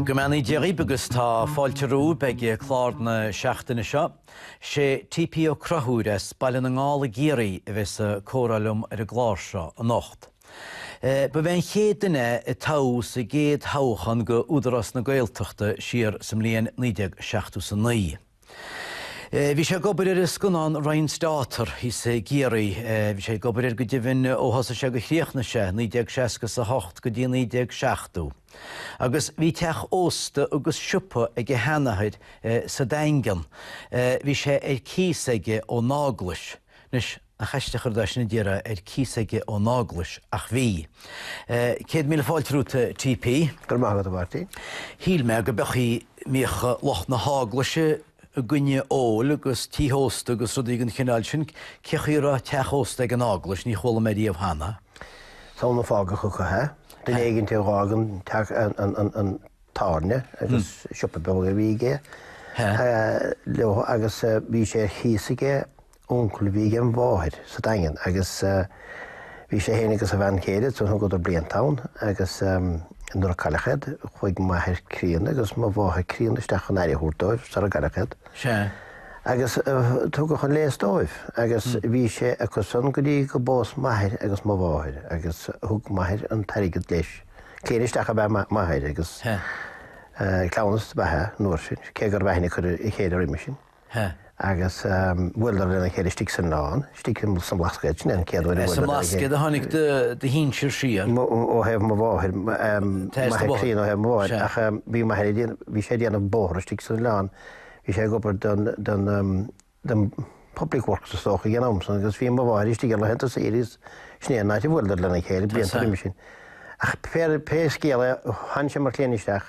Go mbeannaí Dia dhíbh agus tá fáilte romhaibh ag clár na seachtaine seo. Sé TP Ó Conchúir as Baile na nGall i gCiarraí a bheas ag comhrá liom ar an gclár seo anocht. Ba é an chéad duine a toghadh sa gcéad thoghachán go Údarás na Gaeltachta siar sa mbliain 1979. Bhí sé ag obair ar an scannán Ryan's Daughter thíos i gCiarraí. Bhí sé ag obair air go deimhin ó thosaigh sé gur chríochnaigh sé, 1968 go dtí 1970. Agus bhí teach ósta agus siopa ag a sheanathair sa Daingean. Bhí sé ar cíos aige ón Eaglais. Anois nach aisteach an rud é sin a déarfá ar cíos aige ón Eaglais, ach bhí. Céad míle fáilte romhat, T.P. Go raibh maith agat, a Mháirtín. Shíl mé go mbeadh, go mbíodh lucht na hEaglaise i gcoinne óil agus tithe ósta agus rudaí den chineál sin. Cé chaoi a raibh teach ósta ag an Eaglais? Ní chuala mé riamh cheana. Is amhlaidh a fágadh acu é. Duine éigin a d'fhág an tábhairne agus siopa beag a bhí aige leo agus bhí sé ar chíos aige uncail a bhí ag mo mháthair sa Daingean agus bhí sé féin agus a bhean chéile ansin, thugadar blianta ann agus nuair a cailleadh iad, chuaigh m'athair críonna agus mo mháthair críonna isteach chun aire a thabhairt dóibh sarar cailleadh iad. Sea. Agus tugadh an léas dóibh agus bhí sé acu san go dtí go bpós m'athair agus mo mháthair agus thug m'athair an t-airgead leis. Cliamhain isteach ab ea m'athair agus cleamhnas ab ea é an uair sin, cé go raibh aithne acu ar a chéile roimis sin. He. Agus bhuaileadar lena chéile istigh san Oileán, istigh sa mBlascaod, sin é an chéad uair a bhuaileadar lena chéile. As an mBlascaod a tháinig do shinsir siar? Ó thaobh mo mháthair, m'athair críonna ó thaobh mo mháthair, ach bhí m'athair, bhí sé ag déanamh bóthar istigh san Oileán, bhí sé ag obair don, don Public Works is dócha ag an am san agus bhí mo mháthair istigh ar laethanta saoire agus sin é an áit a bhuaileadar lena chéile blianta roimis sin. Ach pé scéal é, tháinig sé mar chliamhain isteach,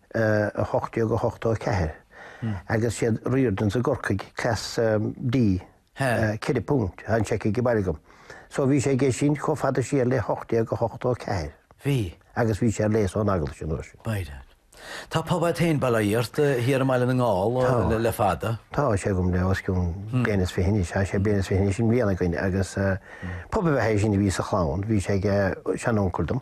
1884 agus siad Riordans i gCorcaigh, Class D, ceithre phunt, tá an seic aige baile agam. So bhí sé aige sin chomh fada siar le 1884. Bhí. Agus bhí sé ar léas ón Eaglais an uair sin. B'fhéidir. Tá pub a'd féin, bail ó Dhia ort, thiar i mBaile na nGall le fada. Tá, tá sé agam le os cionn bliain is fiche anois, tá sé bliain is fiche anois i mbliana againn agus pub ab ea é sin a bhí sa chlann, bhí sé ag seanuncail dom.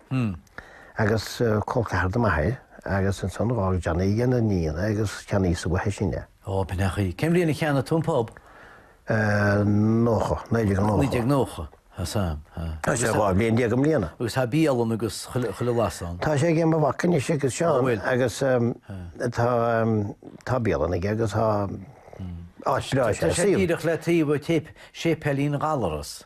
Hm. Agus col ceathar do m'athair, agus ansan dh'fhág Johnny aigena iníon é agus cheannaíos-sa uaithi sin é. Ó, b'in a chaoi. Cén bhliain a cheannaigh tú an pub? Nócha, naoi déag nócha. Naoi déag nócha, ah sea, ah. Tá sé dhá bhliain déag i mbliana. Agus tá bialann agus chuile bhlas ann. Tá sé aige mo mhac anois aige Seán, agus tá, tá bialann aige agus tá áit breá sé. Tá sé díreach le taobh ó téip, séipéilín Ghallarais.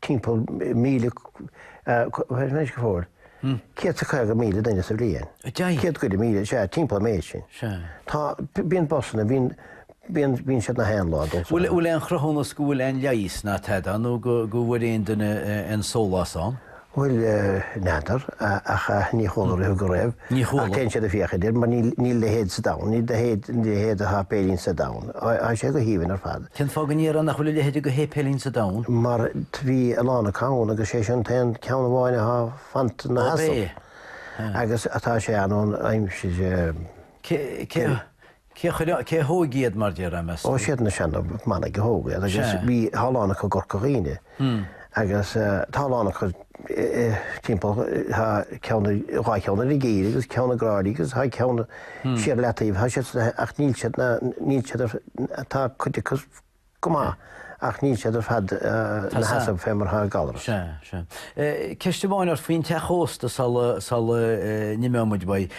timpeall míle, céad is caoga míle duine sa bhliain. Céad go leith míle, sea, timpeall an méid sin. Tá, bíonn busanna, bíonn, bíonn, bíonn siad na haon lá dul sa. Bhfuil aon chruthúnas go bhfuil aon leigheas ná tada nó go, go bhfuair aon duine aon sólás ann? Bhuel, n'fheadar, ach ní chuala riamh go raibh. Ní chuala. Ach téann siad ag féachaint air mar níl, níl a leithéid sa domhan, níl a leithéid, níl a leithéid de sháipéilín sa domhan. Tá sé go haoibhinn ar fad. Cén fáth go ndéarfá nach bhfuil a leithéid de shéipéilín sa domhan? mar bhí a lán acu ann agus sé sin an t-aon ceann amháin athá fanta ina sheasamh agus atá sé ann ón aimsir. Cé a chuir ann, cé a thóig iad mar déarfá, meas tú? Ó siad na seana manaigh a thóg iad agus bhí, thá a lán acu i gCorca Dhuibhne. Agus tá a lán acu timpeall, tá ceann, dhá cheann ar an gCill agus ceann i gCráilí agus tá ceann siar i Leataoibh, tá siad, ach níl siad, níl siad, tá cuid acu go maith ach níl siad ar fad ina sheasamh fé mar atá Gallaras. Sea, sea. Ceist amháin ort faoin teach ósta sula n-imeoidh muid uaidh.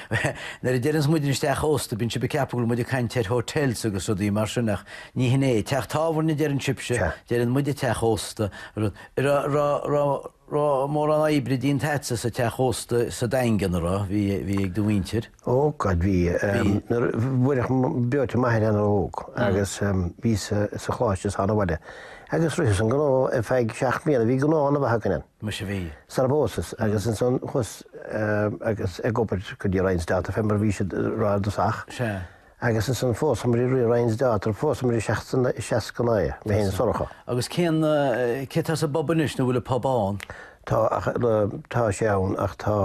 Nuair a deireanns muid an teach ósta bíonn sibh ag ceapadh go bhfuil muid ag caint ar hotels agus rudaí mar sin ach Ní hin é. Teach tábhairne, deireann sibse, deireann muide teach ósta. Raibh, raibh, raibh, raibh mórán oibre déanta agatsa sa teach ósta sa Daingean, a raibh? Bhí, bhí ag do mhuintir? Ó God, bhí. Bhí? Buaileadh breoite m'athair ana-óg agus bhíos sa Choláiste is thána abhaile agus ritheas an gnó ar feadh seacht mbliana, bhí gnó ana-mhaith againn ann. Muise bhí. Sara bpósas agus ansan chuas agus ag obair go dtí Ryan's Daughter fé mar bhíos ag rá i dtosach. Sea. Agus ansan phósamair i rith Ryan's Daughter, phósamair i seasca, seasca naoi, mé féin is Sorcha. Agus cén, cé tá sa bpub anois, nó bhfuil an pub ann? Tá, ach, tá sé ann ach tá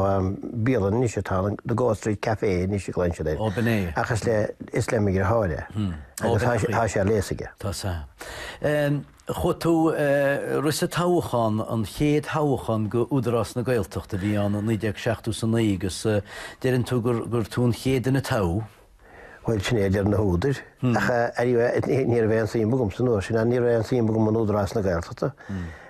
bialann anois atá ann, The Goat Street Café anois a glaonn siad air. Ó, b'in é. Ach is le, is le mo dheartháir é. Ó, b'in é. Agus tá sé, tá sé ar léas aige. Tá, tá. Chuaigh tú ag rith sa toghachán, an chéad thoghachán go Údarás na Gaeltachta a bhí ann i naoi déag seachtú is a naoi agus deireann tú gur tú an chéad duine a toghadh? Bhuel sin é a deir na húdair ach go háirithe ní raibh aon suim agamsa an uair sin ach ní raibh aon suim agam in Údarás na Gaeltachta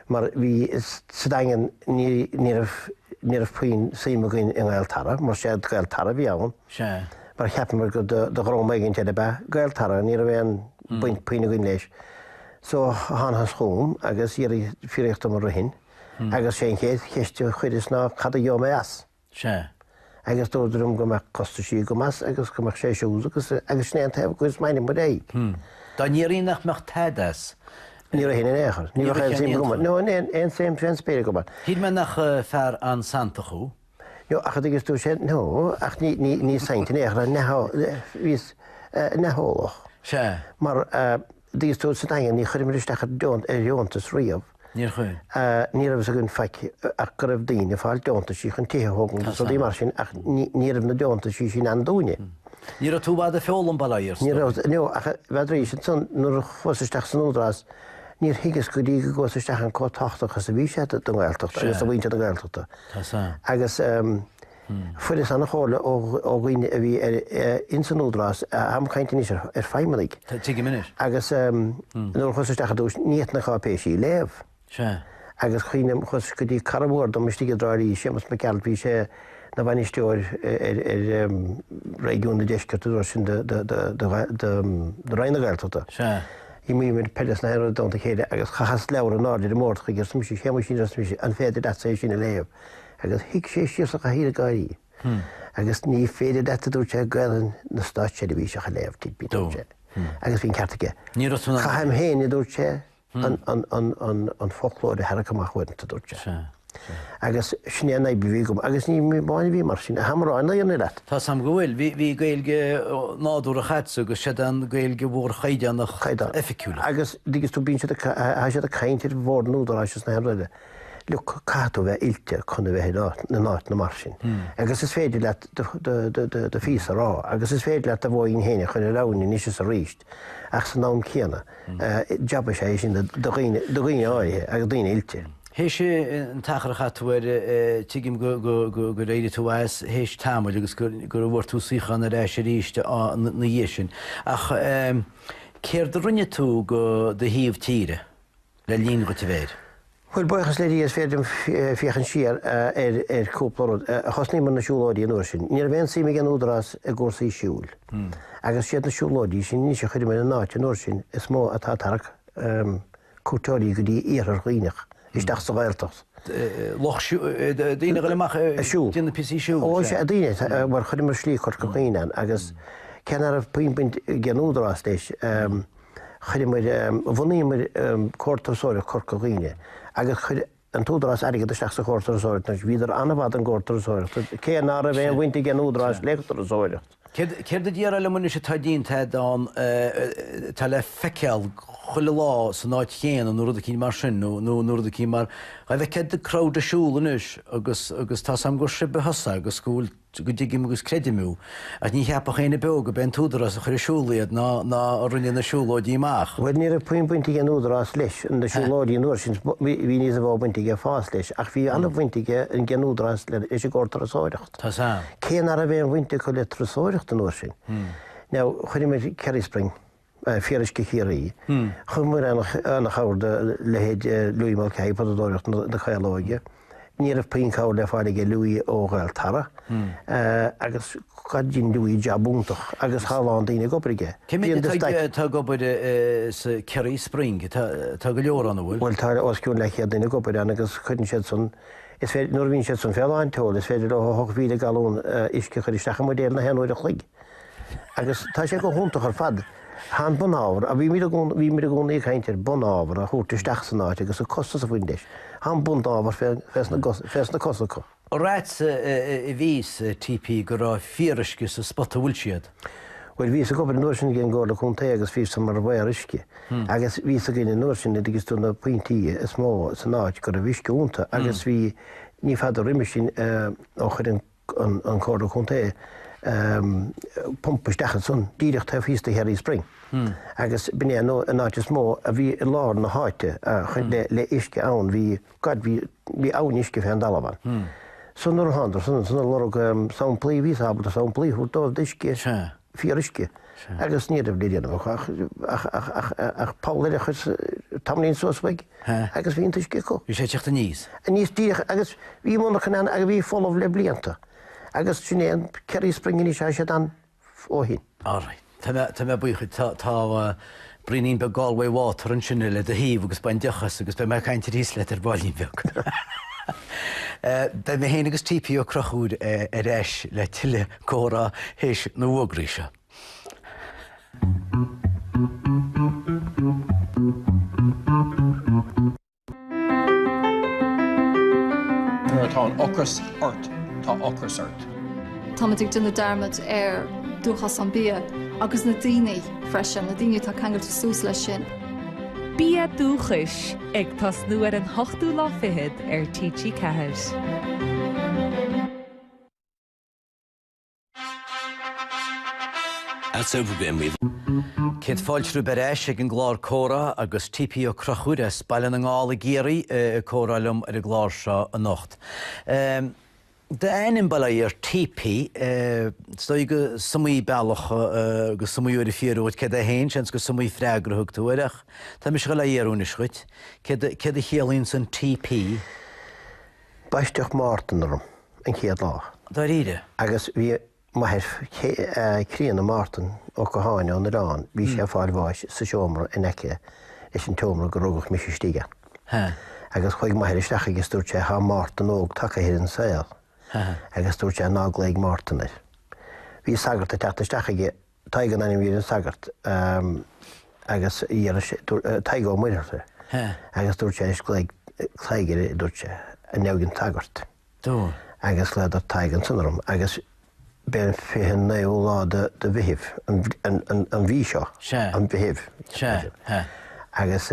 mar bhíos sa Daingean ní raibh ní raibh puinn suim againn i nGaeltarra mar sé Gaeltarra a bhí ann Sea. mar cheapamar gur do dhream éigin eile ab ea Gaeltarra ní raibh aon baint puinn againn leis. So thánathas chugam agus iarradh, fiafraíodh díom an rithfinn agus sé an chéad cheist a chuireas ná cad a gheobhaidh mé as? Sea. Agus dúradar liom go mbeadh costaisí agam as agus go mbeadh sé siúd agus agus sin é an taobh a chuireas m'ainm ar aghaidh. Dá ndéarfaí nach mbeadh tada as? Ní rithfinn in aon chor. Ní bheadh aon suim agam ann. No, aon suim fén spéir agam ann. Shíl mé nach fear an-santach thú. No, ach an dtuigeann tú sin? No, ach ní, ní, ní saint in aon chor, neamh, bhíos neamheolach. Sea. Mar a. Dtuigeann tú sa Daingean, níor chuireamar isteach ar dheontas riamh. Níor chuir. Ní raibh fhios againn faic ach go raibh daoine ag fáil deontaisí chun tithe a thógaint agus rudaí mar sin ach ní raibh na deontaisí sin ann dúinne. Ní raibh tú i bhfad ag foghlaim, bail ó Dhia ort, Ní raibh, no, ach i bhfad arís. Ansan nuair a chuas isteach san Údarás níor thuigeas go dtí go gcuas isteach ann chomh tábhachtach is a bhí sé don Ghaeltacht agus do mhuintir na Gaeltachta. Agus. Fuaireas an-chomhairle ó dhaoine a bhí ins an Údarás táim ag caint anois ar feidhmeannaigh. Tuigim anois. Agus nuair a chuas isteach ar dtús, ní fhéadfainn na cáipéisí a léamh. Sea. Agus cuimhním, chuas go dtí cara mhór dom istigh i dTrá Lí, Séamus Mac Gearailt, bhí sé 'na bhainisteoir ar réigiún an deiscirt an uair sin do Roinn na Gaeltachta. Sea. D'imríomar peil is gach aon rud i dteannta a chéile agus chaitheas leabhar in airde ar an mbord chuige agus dúirt mise, 'Shéamuisín, arsa mise, 'an féidir leatsa é sin a léamh? agus shuigh sé síos sa chathaoir ag gáirí agus ní féidir leat a dúirt sé Gaelainn na státseirbhíseach a léamh T.P., a dúirt sé, agus bhí an ceart aige. Ní raibh tú in ann. Caithim féin, a dúirt sé, an foclóir a tharrac amach uaireanta, a dúirt sé. Agus sin é an fhadhb a bhí agam agus ní mé amháin a bhí mar sin. Táim ag rá na fírinne leat. Tá's agam go bhfuil. Bhí Gaeilge nádúrtha agatsa agus sé an Ghaeilge mhór chaighdeánach oifigiúil. Agus, dtuigeann tú, bíonn siad ag caint ar bhord an Údaráis agus gach aon rud eile. Look, caithfidh tú bheith oilte chun a bheith in áit, in áiteanna mar sin. Agus is féidir leat do, do, do, do, do phíosa a rá, agus is féidir leat do bhó féin a chur thar abhainn anois is arís, ach san am céanna, eh, jab is ea é sin do, do dhaoine, do dhaoine áirithe, agus daoine oilte. Théis an t-achar a chaith tú air, eh, tuigim go, go, go, gur éirigh tú as théis tamaill agus gur, gur bhfuair tú suíochán ar ais arís, á, ina, ina dhiaidh sin. Ach, eh, céard a rinne tú do do thaobh tíre? le linn dhuit a bheith air. Bhuel, buíochas le Dia is féidir liom féachaint siar ar chúpla rud. Thosnaíomar ar na siúlóidí an uair sin. Ní raibh aon suim ag an Údarás i gcúrsaí siúil. Agus siad na siúlóidí sin anois a chuireamar in áit an uair sin is mó atá ag tarrac cuairteoirí go dtí Iarthar Dhuibhneach, isteach sa Ghaeltacht. Lucht daoine ag goil amach ag déanamh píosaí siúil. Ó is ea, daoine, mar chuireamar Slí Chorca Dhuibhne ann agus cé ná raibh puinn baint ag an Údarás leis, Chuireamar, bhunaíomar Comhar Turasóireachta Chorca Dhuibhne agus chuir an tÚdarás airgead isteach sa Chomhar Turasóireacht anois. Bhíodar an-mhaith don Chomhar Turasóireachta cé ná raibh aon bhaint ag an Údarás le turasóireacht. Céard a déarfá liom anois atá déanta agat ann, atá le feiceáil chuile lá san áit chéanna nó rud eicínt mar sin, nó nó rud eicínt mar, dhá bhfeictheá do crowd ag siúl anois agus agus tá 's a'm gurb ab ea tusa agus go bhfuil Sea, go dtuigim agus creidim thú, ach ní cheapfadh éinne beo gurb é an t-údarás a chuir ar siúl iad ná ná a rinne na siúlóidí amach. Bhuel, ní raibh puinn baint ag an údarás leis na siúlóidí an uair sin, bhí níos mhó baint aige fós leis, ach bhí an-bhaint ag an údarás leis an gComhar Turasóireacht, cé ná raibh aon bhaint acu le turasóireacht an uair sin. Now, chuireamar Kerry Spring. Fíoruisce Chiarraí. Thugamar ana-chabhair do leithéid Louis Mulcahy i bPotadóireacht na Caolóige. Ní raibh puinn cabhair le fáil aige Louis ó Ghaeltarra agus dhein Louis jab iontach agus tá a lán daoine ag obair aige. Cé mhéad atá ag obair sa Kerry Spring? Tá go leor ann, an bhfuil? Bhuel tá os cionn leathchéad duine ag obair ann agus cuireann siad san, is féidir, nuair a bhíonn siad san fé lán tseoil, is féidir leo 8,000 galún uisce a chuir isteach i mbuidéil na haon uair a chloig. Agus tá sé go hiontach ar fad. Tá an bunábhar, a bhímid i gcónaí ag caint air, bunábhar a thabhairt isteach san áit agus an costas a bhain leis. Tá an bunábhar fés na cosa acu. Right, cá bhfios TP go raibh fíoruisce sa spota bhfuil siad. Bhuel, bhíos ag obair an uair sin ag an gComhairle Contae agus bhí a fhios agam mar gheall ar uisce agus bhí a fhios againn an uair sin an dtuigeann tú na pointí is mó san áit go raibh uisce iontu agus bhí, ní fada roimis sin ó chuir an, an Chomhairle Chontae pump isteach ansan díreach taobh thíos de Kerry Spring agus b'in é an áit is mó a bhí i lár na háite le uisce ann, bhí God, bhí abhainn uisce fé an talamh ann. So nuair a thánadar san ansan ar lorg samplaí, bhíos ábalta samplaí a thabhairt dóibh d'uisce. fíoruisce agus ní raibh le déanamh acu ach poll eile a chur tamaillín suas uaidh agus bhí an t-uisce acu. Bhí sé ag teacht aníos? Aníos díreach agus bhí monarcha ann a bhí folamh le blianta agus sin é an Kerry Spring anois, tá siad ann ó shin. All right, tá mé buíoch duit. Tá. Braoinín beag Galway water ansin le do thaobh agus bain deoch as agus beidh mé ag caint aríst leat ar baillín beag. Beidh mé féin agus TP Ó Conchúir ar ais le tuilleadh comhrá théis na bhfógraí seo. Nuair atá ocras ort, tá ocras ort. Táimid ag déanamh dearmad ar dúchas an bia agus na daoine freisin, na daoine atá ceangailte suas leis sin. Bia Dúchais, ag tosnú ar an ochtú lá fichead ar TG4. Céad fáilte romhaibh ar ais ag an gclár Comhrá agus TP Ó Conchúir as Baile na nGall i gCiarraí ag comhrá liom ar an gclár seo anocht. D'ainm bail ó Dhia ort TP, is dóigh go s'iomaí bealach agus iomaí uair a fiafraíodh dhíot céard é féin, seans gur s'iomaí freagra a thug tú air ach tá mise ag dul dhá fhiafraí anois dhuit, céard a chiallaíonns an TP? Baisteadh Mártan orm an chéad lá. Dáiríre? Agus bhí m'athair críonna, Mártan Ó Catháin ón Oileán, bhí sé ag fáil bháis sa seomra in aice leis an tseomra gur rugadh mise istigh ann. Agus chuaigh m'athair isteach agus dúirt sé, Tá Mártan óg tagtha ar an saol. Agus dúirt sé, Ná glaoigh Mártan air. Bhí sagart ag teacht isteach chuige. Tadhg an ainm a bhí ar an sagart agus Tadhg Ó Muircheartaigh agus dúirt sé glaoigh Tadhg air a dúirt sé, i ndiaidh an tsagairt, agus ghlaodar Tadhg ansan orm agus b'é an fiche naoú lá de Mheithimh an mhí seo, an Mheithimh, agus.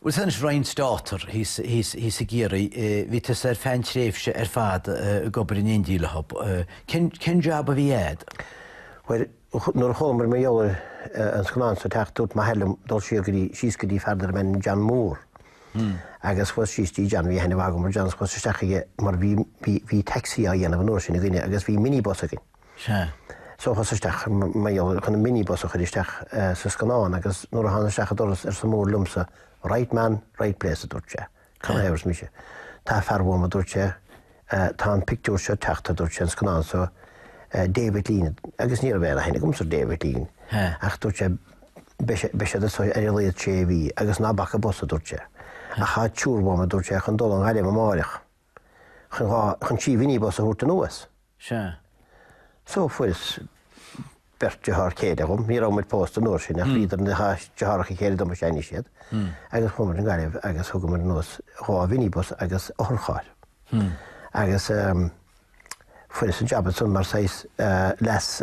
Bhuel anois Ryan's Daughter thíos i gCiarraí, bhí tusa ar feadh an tréimhse ar fad ag obair in éindí leothab. Cén job a bhí agat? Bhuel, nuair a chualamar mar gheall ar an scannán so ag teacht, dúirt m'athair liom dul siar go dtí, síos go dtí fear darbh ainm John Moore. Agus chuas síos go dtí John, bhí aithne mhaith agam ar John, so chuas isteach chuige mar bhí, bhí, bhí taxi á dhéanamh an uair sin againne agus bhí minibus againn. Sea. So chuas isteach mar gheall chun an minibus a chur isteach sa scannán agus nuair a thána isteach an doras arsa Moore liomsa Right man, right place, a dúirt sé. Canathaobh, arsa mise. Tá fear uaim, a dúirt sé, tá an pictiúr seo ag teacht, a dúirt sé, an scannán so David Lean, agus ní raibh aon aithne agamsa ar David Lean, ach dúirt sé beidh siad so ar a laghad sé mhí agus ná bac an bus, a dúirt sé. Ach tá triúr uaim, a dúirt sé, chun dul an Ghaillimh amáireach. chun dhá chun trí mhinibus a thabhairt anuas. Sea. So fuaireas beirt deartháir céile dom, ní raibh muid pósta an uair sin ach bhíodar ina, deartháireacha céile domsa anois iad, agus chuamar an Ghaillimh agus thugamar anuas dhá mhinibus agus otharcharr. Agus fuaireas an jab ansan mar saghas leas.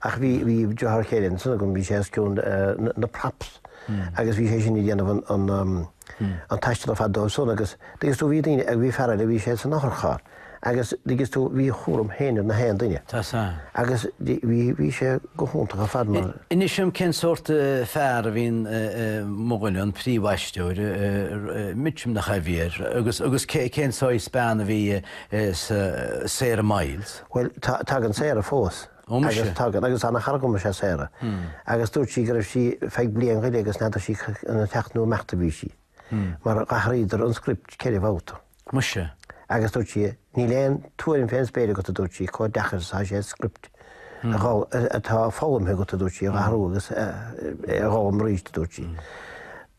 Ach bhí deartháir céile ansan agam, bhí sé os cionn na props agus bhí sé sin ag déanamh an taistil ar fad dóibh san agus dtuigeann tú bhí daoine, bhí fear eile bhí sé san otharcharr agus dtuigeann tú bhí a chúram féin ar gach aon duine agus bhí sé go hiontach ar fad mar. Inis dom cén sórt fear a bhí in mo dhuine, an príomhaisteoir, Mitchum nach ea a bhí air, agus cén saghas bean a bhí i Sarah Miles? Bhuel, tagann Sarah fós. Ó muise. Tagann, agus ana chara agam is ea Sarah. Agus dúirt sí go raibh sí feadh bliain go leith agus n'fheadair sí an ag teacht nó ag imeacht a bhí sí. Mar dh'athraíodar an script ceithre bhabhta. Muise. Agus dúirt sí, níl aon tuairim fén spéir agat a dúirt sí, comh deacair is atá sé an script atá foghlamtha agat a dúirt sí, a dh'athrú agus a dh'fhoghlaim aríst a dúirt sí.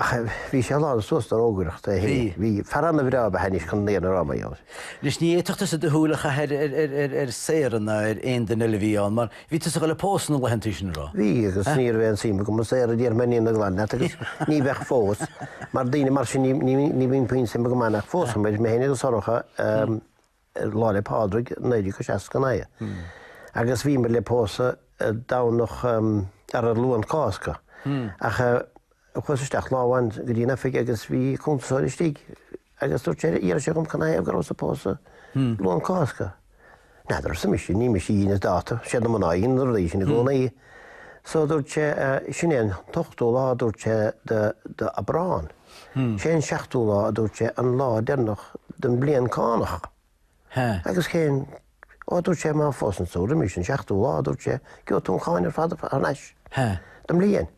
Ach bhí sé lán suas de rógaireacht é féin. Bhí fear ana-bhreá ab ea é anois chun léamh na ndrámaí ann. Anois, ní fhéadfadh tusa do shúil a chaitheamh ar Sarah ná ar aon duine eile a bhí ann, mar bhí tusa ag dul ag pósadh na laethanta sin, ná raibh? Bhí, agus ní raibh aon suim agam i Sarah, déarfaidh mé an fhírinne ghlan leat, agus ní bheadh fós, mar daoine mar sin ní bhíonn puinn suime agam ann. Ach phósamair, mé féin agus Sorcha. ar Lá 'le Pádraig 1969 agus bhíomar le pósadh Domhnach ar an Luan Cásca ach chuas isteach lá amháin go dtí an oifig agus bhí cuntasóir istigh agus dúirt sé, d'fhiafraigh sé dhom canathaobh go rabhas ag pósadh Luan Cásca. N'fheadar, arsa mise, ní mise a dheineas dáta, siad na mná a dheineann na rudaí sin i gcónaí. So dúirt sé, sin é an t-ochtú lá, dúirt sé, d'Aibreán. Sé an seachtú lá, a dúirt sé, an lá deireanach den bhliain cánach. Agus cén. Ó, a dúirt sé, má phósann tú roimis an seachtú lá, a dúirt sé, gheobha tú an cháin ar fad thar n-ais don bhliain.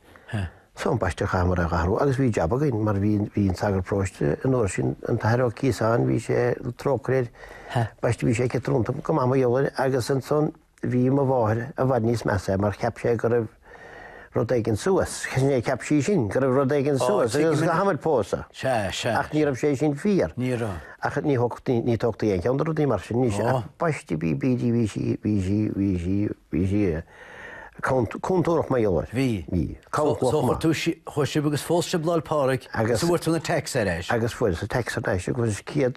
So, an baiste, chaitheamair é a dh'athrú agus bhí jab againn mar bhí, bhí an sagart próiste an uair sin, an tAthair Ó Ciosáin, bhí sé trócaire air, baiste, bhí sé ciotrúnta go maith mar gheall air agus ansan, Bhí mo mháthair i bhfad níos measa mar cheap sé go raibh rud éigin suas. Sea, cheap sí sin, go raibh rud éigin suas agus gur chaitheamair pósadh. Sea, sea. Ach ní raibh sé sin fíor. Ní raibh. Ach ní thógtaí, ní tógtaí aon cheann de rudaí mar sin anois. Ó. Ach baiste bí, bídí, bhí sí, bhí sí, bhí sí, bhí sí cont, contúireach mar gheall air. Bhí. Bhí. Cabhrach So chomh chuir maith. tú si, chuir sibh agus phós sibh Lá'l Pádraig Agus- so bhfuair tú an tax ar ais. Agus fuaireas an tax ar ais agus céad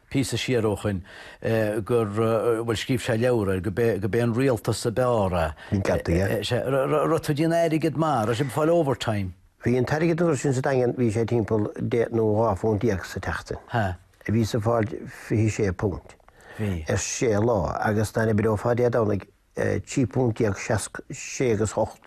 píosa siar ó shoin, gur, bhuel, scríobh sé leabhar air, go b'é, go b'é an rialtas ab fhearr a, Ní ceadaí é. is é, raibh tú ag déanamh airgead maith, raibh sibh ag fáil overtime. Bhí an t-airgead an uair sin sa Daingean, bhí sé timpeall deich nó dhá phunt déag sa tseachtain. Ha. Bhíos ag fáil fiche sé punt. Bhí. ar sé lá agus dá n-oibreofá Dé Domhnaigh 13 punt sé agus hocht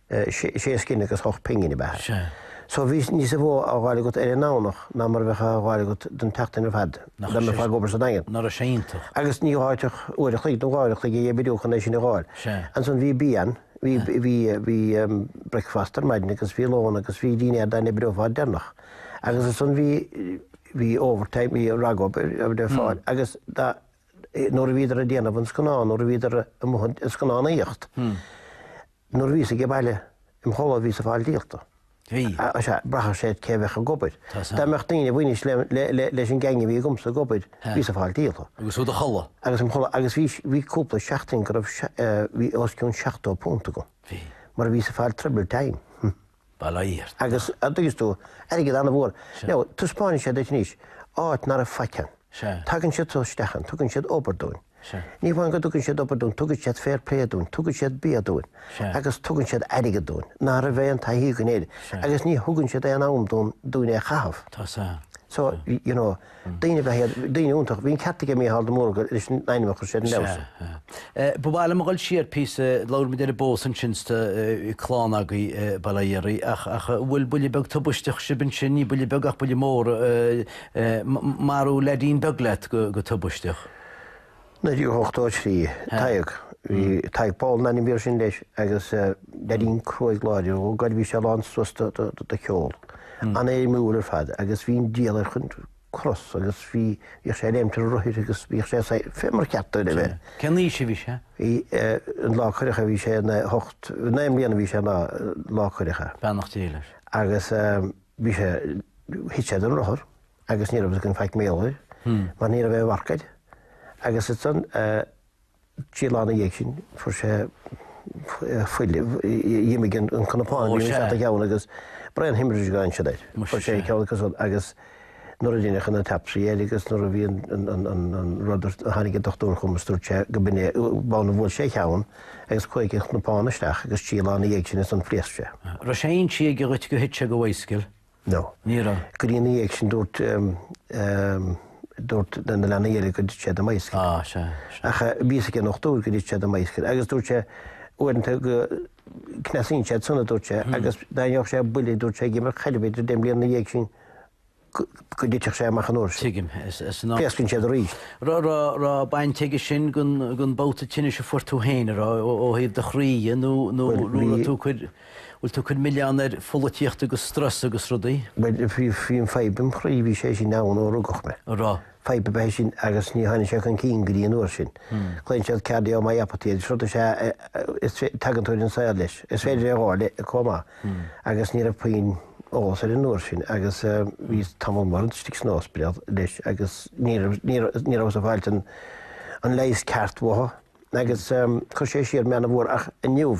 sé scillinge agus hocht pingine ab ea é. So bhí níosa mhó á dháil agat ar an nDomhnach ná mar a bheadh á dháil agat don tseachtain ar fad dá mbeifeá ag obair sa Daingean. Nára sé iontach. Agus níor ghá dhuit ach uair a chloig nó dhá uair a chloig a dh'oibriú chun é sin a dháil. Ansan bhí bian, bhí, bhí, bhí bricfeasta ar maidin agus bhí lón agus bhí dinnéar dá n-oibreofá deireanach. Agus ansan bhí, bhí overtime, bhí ragobair le fáil agus dá, nuair a bhíodar ag déanamh an scannáin, nuair a bhíodar amuigh ag scannánaíocht, nuair a bhíos ag an bhaile im' chodladh bhíos ag fáil díolta. Bhí. Sea, bhraitheadh sé cé a bheadh ag obair. Dá mbeadh daoine a bhainfeadh leis an gceangal a bhí agamsa ag obair, bhíos ag fáil díolta. Agus tú i do chodladh. Agus im' chodladh. Agus bhí, bhí cúpla seachtain go raibh, bhí os cionn seachtó punt agam. Bhí. Mar bhíos ag fáil triple time. By dad, agus an dtuigeas tú airgead an-mhór. Now, taispeánann sé duit anois áit nár raibh faic ann. Tagann siad so isteach an, tugann siad obair dúinn. Ní hamháin go dtugann siad obair dúinn, tugann siad fair play dúinn, tugann siad bia dúinn agus tugann siad airgead dúinn, ná raibh aon taithí againn é, agus ní thugann siad aon am dúinn é a chaitheamh. So, you know, Daoine a bheith air, daoine iontach. Bhí an ceart aige Micheál de Mórdha leis an ainm a chuir sé ar an leabhar seo. Ba mhaith liom a dhul siar píosa, labhair muid ar an bpósadh ansin is tá clann agaibh, bail ó Dhia oraibh, ach bhuail buille beag tubaisteach sibh ansin, ní buille beag ach buille mór, marú leaidín beag leat go tubaisteach. 1983, Tadhg, bhí Tadhg Pól ab ainm air sin leis agus leaidín cruaidh láidir ab ea é, bhí sé lán suas de cheol, an-éirimiúil ar fad agus bhí an diabhal air chun crosa agus bhí, bhíodh sé ag léimt ar rothair agus bhíodh sé saghas, fé mar ba cheart dó a bheith. Cén aois a bhí sé? Bhí, an lá cuireadh é bhí sé na hocht, naoi mbliana a bhí sé an lá, lá cuireadh é. Beannacht Dé leis. Agus bhí sé, thit sé den rothar agus ní raibh aon faic mar gheall air mar ní raibh aon mharc air agus istigh ansan trí lá na dhiaidh sin fuair sé, dh'imigh an cnapán, bhí sé ina cheann agus brain haemorrhage ansin air. Fuair sé ceann ansan agus nuair a deineadh an t-autopsy air agus nuair a bhí an rud air, tháinig an dochtúir chugam agus dúirt sé gurb in é, gob amhlaidh a bhuail sé cheann agus chuaigh an cnapán isteach agus trí lá na dhiaidh sin is ea a phléasc sé. Raibh sé inste aige dhuit go thit sé den mbicycle. No. Ní raibh. Go dtí ina dhiaidh sin dúirt dúirt na na leanaí eile go dtit sé don mbicycle. Á, sea, sea. Ach bhí a fhios aige an dochtúir go dtit sé don mbicycle agus dúirt sé uaireanta go cneasaíonn sé suas dúirt sé agus dá bhfaigheadh sé buille dúirt sé ag imirt caide b'fhéidir deich mbliana ina dhiaidh sin go go dtitfeadh sé amach an uair sin. Tuigim, is is ná. Pléascann sé arís. Raibh raibh raibh baint aige sin gon gon babhta tinnis a fuair tú féin a raibh ó ó thaobh do chroí nó nó nó raibh tú ag cur Bhfuil tú ag cur milleán ar pholaitíocht agus strus agus rudaí? Bhuel, bhí an fadhb im' chroí, bhí sé sin ann ó rugadh mé. An raibh? Fadhb ab ea é sin agus ní tháinig sé chun cinn go dtí an uair sin. Glaonn siad cardiomyopathy air, is rud is ea é is tagann tú ar an saol leis. Is féidir é a fháil chomh maith agus ní raibh puinn eolas air an uair sin agus bhíos tamall mór istigh san ospidéal leis agus ní raibh, ní raibh, ní rabhas ag fáilt an leigheas ceart uathu agus chuir sé siar mé ana mhór ach inniu,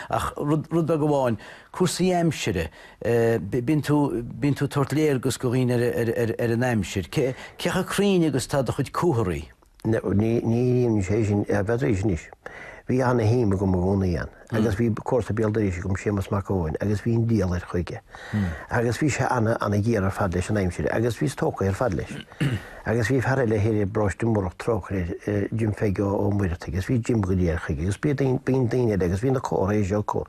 Ach rud beag amháin, cúrsaí aimsire. Bíonn tú ag tabhairt léargas do dhaoine ar an aimsir. Cé chomh cruinn agus atá do chuid comharthaí? Ní éiríonn sé sin ar Bheatrice anois. Bhí ana-shuim agam i gcónaí ann. Agus bhí comharsa béal dorais agam, Séamus Mac Eoin, agus bhí an diabhal air chuige. Agus bhí sé ana, ana-ghéar ar fad leis an aimsir, agus bhíos tógtha ar fad leis. Agus bhí fear eile thoir i bParóiste Múrach, trócaire air, Jim Pheige Ó Muircheartaigh, agus bhí Jim go diail chuige, agus bíonn daoine eile, agus bhí na comharthaí seo acu.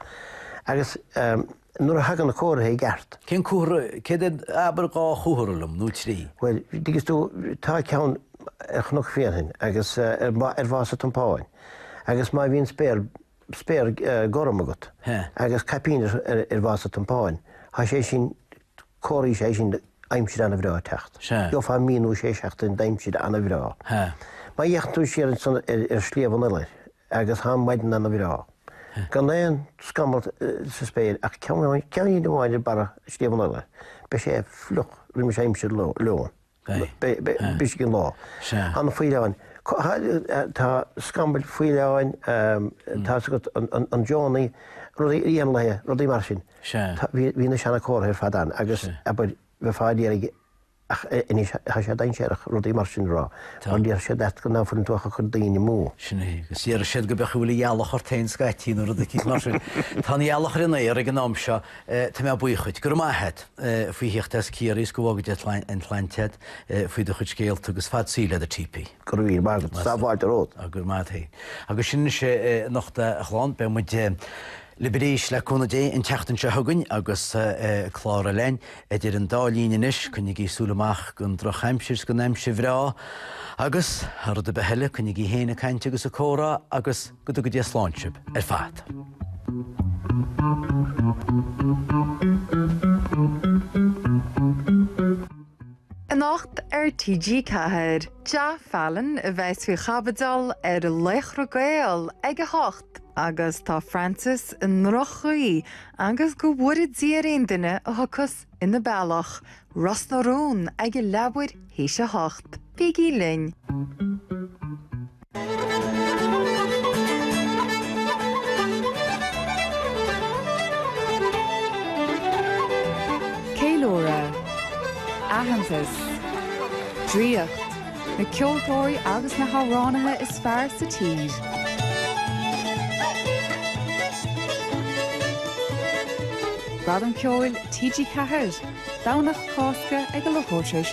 Agus nuair a thagann na comharthaí i gceart. Cén comhartha, céard é, abair dhá chomhartha liom, nó trí. Bhuel, dtuigeann tú, tá ceann ar Chnoc Bhréanainn, agus ar Mhá, ar Mhás an Tiompáin, agus má bhíonn spéir, spéir gorm agat agus caipín ar Mhás an Tiompáin, tá sé sin, comhartha is ea é sin aimsir ana-bhreá ag teacht. Gheofá mí nó sé seachtaine d'aimsir ana-bhreá. Má fhéachann tú siar ansan ar Shliabh an Iolair agus tá an mhaidin ana-bhreá, gan aon scamall sa spéir ach ceann amháin ar barra Shliabh an Iolair, beidh sé fliuch roimis aimsir lóin. Brisfidh an lá. Na faoileáin. Tá scamaill, faoileáin, tá 's agat, an deonaí, rudaí éanlaithe, rudaí mar sin. Bhí na seanachomharthaí ar fad ann agus, abair, bheifeá ag iarraidh ach anois tá sé dainséarach rudaí mar sin a rá mar déarfaidh siad leat ná fuileann tú ach ag cur daoine amú. Sin é, agus déarfaidh siad go mb'fhéidir go bhfuil an ghealach ort féin scaití nó rud eicínt mar sin. Tá an ghealach ar an aer ag an am seo, tá mé buíoch dhuit. Go raibh maith a't. faoi thíocht as Ciarraí is go bhfága Dia an tsláinte a't faoi do chuid scéalta agus fad saoil leat a TP. Go raibh míle maith agat. Tá fáilte romhat. Go raibh maith a't fhéin. Agus sin anois é anocht a chlann, beidh muid libh arís le cúnamh Dé an tseachtain seo chugainn agus clár eile againn. Idir an dá linn anois, coinnigí súil amach don drochaimsir is don aimsir bhreá agus, thar rud ar bith eile, coinnigí fhéin ag caint agus ag comhrá agus. Go dtuga Dia slán sibh ar fad. Anocht ar TG4, Ja Fallon a bheas faoi chaibidil ar Laochra Gael ag a hocht agus tá Frances i ndroch-chaoi agus go bhfóire Dia ar aon duine a thiocfas ina bealach, Ros na Rún, ag a leathuair tar éis a hocht. Bígí linn! Ceiliúradh. Aitheantas. Draíocht. na ceoltóirí agus na hamhránaithe is fearr sa tír. Gradam Ceoil TG4, Domhnach Cásca ag a leathuair tar éis.